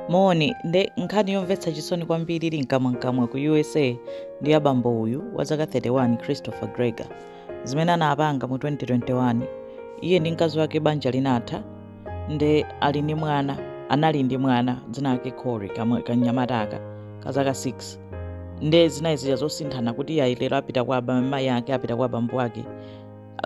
moni nde nkhani yomvetsa chisoni kwambiri ili mkamwamkamwa ku usa ndi ya bambo uyu wa zaka 31 christopher gregor zimene anapanga mu 2021 iye ndi mkazi wake banja linatha nde ali ndi mwana anali ndi mwana dzina lake corey kamwe- kanyamata aka ka zaka 6 nde zinali zija zosinthana kuti iye lero apita kwa aba- mayi ake apita kwa bambo ake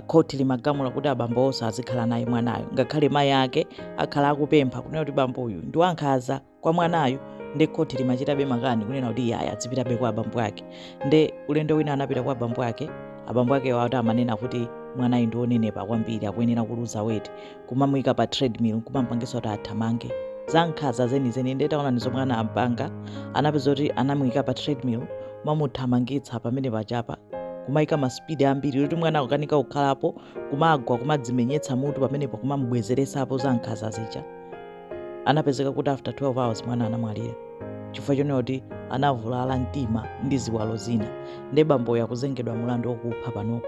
khoti limagamula kuti abambo onse azikhala naye mwanayo ngakhale mayi ake akhala akupempha kunena kuti bamboyu ndi wankhaza kwa mwanayo nde khoti limachitabe makani kunena kuti iye azipitabe kwa abambo ake nde ulendo wina anapita kwa abambo ake abambo akewo ati amanena kuti mwanayu ndi wonenepa kwambiri akuyenera kuluza weti kumamuyika pa treadmill kumampangisa kuti athamange zankhaza zenizeni nde taonani zomwe anampanga anapeza kuti anamuyika pa treadmill kumamuthamangitsa pamene pachapa kumayika masipidi ambiri kuti mwana akukanika kukhalapo kumagwa kumadzimenyetsa mutu pamenepo kumamubwezeresapo zankhaza zija anapezeka kuti after 12 hours mwana anamwalira chifukwa chonena kuti anavulala mtima ndi ziwalo zina nde bamboyo akuzengedwa mulandu wokupha panopo